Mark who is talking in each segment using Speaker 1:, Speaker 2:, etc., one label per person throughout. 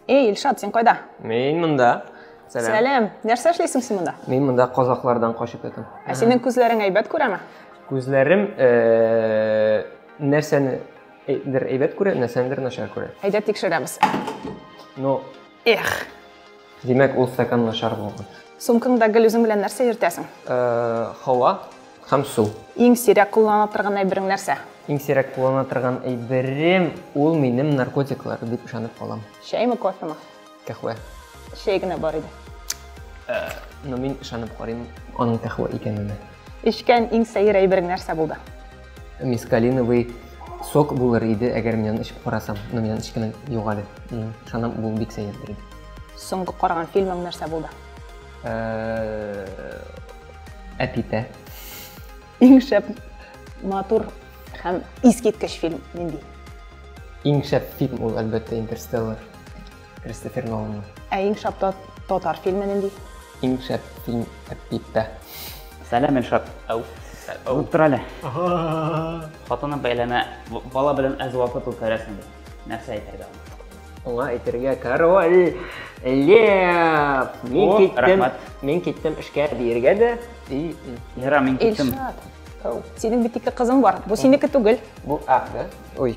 Speaker 1: Эй, Илшат, син кайда? Мин монда.
Speaker 2: Сәлам. Сәлам.
Speaker 1: Нәрсә эшлисең син монда? Мин монда казаклардан
Speaker 2: качып ятам. Ә синең күзләрең
Speaker 1: әйбәт күрәме? Күзләрем
Speaker 2: э, нәрсәне әйдер әйбәт күрә, нәрсәнедер начар күрә. Әйдә тикшерәбез.
Speaker 1: Ну,
Speaker 2: Эх.
Speaker 1: Димәк,
Speaker 2: ул стакан начар булган. Сумкаңда гел үзең
Speaker 1: белән нәрсә йөртәсең? Э, һава
Speaker 2: һәм су. Иң сирәк куллана
Speaker 1: торган әйберең нәрсә? Иң сирәк куллана
Speaker 2: торган әйберем ул минем наркотиклар дип ышанып калам. Чәйме, кофеме?
Speaker 1: Кәхвә.
Speaker 2: Чәй генә
Speaker 1: бар иде. Э,
Speaker 2: но мин ышанып карыйм аның кәхвә икәненә. Эчкән иң
Speaker 1: сәер әйберең нәрсә булды? Мискалиновый
Speaker 2: сок булыр иде, әгәр мин аны эчеп карасам. Но мин аны эчкәнем юк әле. Ышанам, бу бик сәердер иде. Соңгы караган
Speaker 1: фильмың нәрсә булды?
Speaker 2: Әпитә.
Speaker 1: Иң шәп матур һәм искиткеч фильм нинди? Иң
Speaker 2: шәп фильм ул, әлбәттә, Интерстеллар. Кристофер Ноланның. Ә иң шәп
Speaker 1: татар фильмы нинди? Иң шәп
Speaker 2: фильм Әппиттә. Сәлам,
Speaker 3: Эльшат. Ау. Ау. Тор әле. Хатыны бәйләмә, бала белән әз вакыт үткәрәсең. Нәрсә әйтергә? Аңа әйтергә
Speaker 2: король Лев. Мин киттем. Мин киттем эшкә диергә дә. И, Лера,
Speaker 3: мин киттем. Эльшат.
Speaker 1: Синең бит ике кызың бар. Бу синеке түгел. Бу, а, да?
Speaker 2: Ой.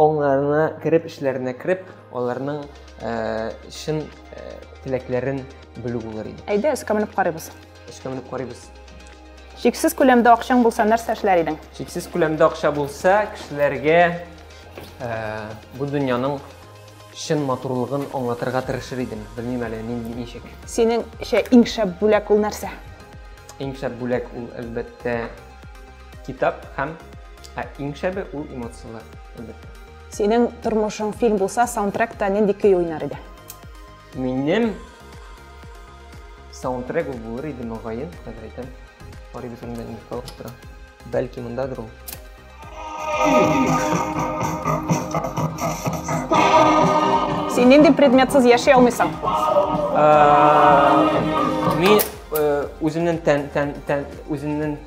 Speaker 2: Аңнарына кереп, эшләренә кереп, аларның чын теләкләрен белү булыр иде. Әйдә, эшкә менеп карыйбыз.
Speaker 1: Эшкә менеп карыйбыз.
Speaker 2: Шиксез
Speaker 1: күләмдә акчаң булса, нәрсә эшләр идең? Шиксез күләмдә акча
Speaker 2: булса, кешеләргә бу дөньяның чын матурлыгын аңлатырга тырышыр идем. Белмим әле нинди ничек. Синеңчә
Speaker 1: иң шәп бүләк ул нәрсә? Иң шәп
Speaker 2: бүләк ул әлбәттә Китап һәм ә иң шәбе ул эмоцияләр, әлбәттә. Синең
Speaker 1: тормышың фильм булса, саундтректа нинди көй уйнар иде? Минем
Speaker 2: саундтрек ул булыр иде, мөгаен, хәзер әйтәм. Карыйбыз инде инде калып тора. Бәлки мондадыр ул.
Speaker 1: Син нинди предметсыз яши алмыйсың? Ә,
Speaker 2: Мин Үземнен тән, тән, тән, үземнен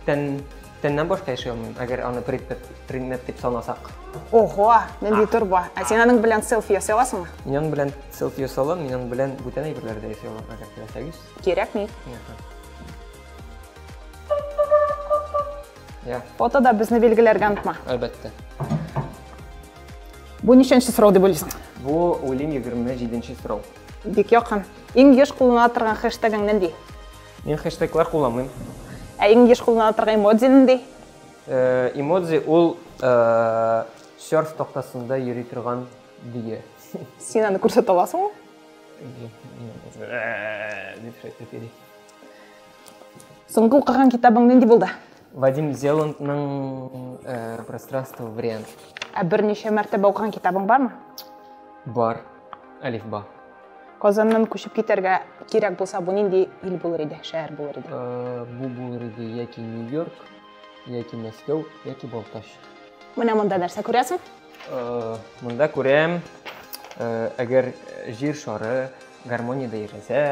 Speaker 2: тән, тәннән башка яши алмыйм, әгәр аны предмет, предмет дип санасак. Ого,
Speaker 1: нинди торба. Ә син аның белән селфи ясый аласыңмы? Мин аның белән
Speaker 2: селфи ясый алам, мин аның белән бүтән әйберләр дә ясый алам, әгәр теләсәгез. Кирәкми. Я. Фотода безне билгеләргә
Speaker 1: онытма. Әлбәттә. Бу ничәнче сорау дип уйлыйсың? Бу, уйлыйм,
Speaker 2: 27 нче сорау. Бик якын.
Speaker 1: Иң еш куллана торган хэштегың нинди? Мин хэштеглар
Speaker 2: кулланмыйм. Ә иң еш
Speaker 1: куллана торган эмодзи нинди? Э,
Speaker 2: эмодзи ул э, серф тактасында йөри торган дөя. Син аны
Speaker 1: күрсәтә аласыңмы? Э, дип шайтып йөри. Соңгы укыган китабың нинди булды? Вадим
Speaker 2: Зеландның э, пространство вариант. Ә берничә
Speaker 1: мәртәбә укыган китабың бармы? Бар.
Speaker 2: Алифба. Казаннан
Speaker 1: күчеп китәргә кирәк булса, бу нинди ил булыр иде, шәһәр булыр иде? Э, бу булыр
Speaker 2: иде яки Нью-Йорк, яки Мәскәү, яки Балтач. Менә монда
Speaker 1: нәрсә күрәсең? Э,
Speaker 2: монда күрәм, әгәр җир шары гармониядә яшәсә,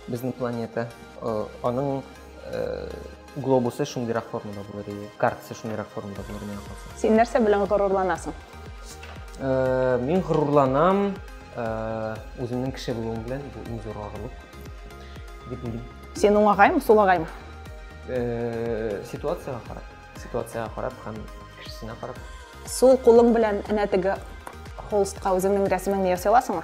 Speaker 2: Безнең планета, аның глобусы шундыйрак формада булыр иде, картасы шундыйрак формада булыр иде. Син нәрсә белән
Speaker 1: горурланасың?
Speaker 2: Мин горурланам үземнең кеше булуым белән, бу иң зур горурлык дип уйлыйм. Син уңагаймы,
Speaker 1: сулагаймы? Ситуацияга
Speaker 2: карап, ситуацияга карап һәм кешесенә карап. Сул кулың
Speaker 1: белән энә теге холстка үзеңнең рәсемеңне ясый аласыңмы?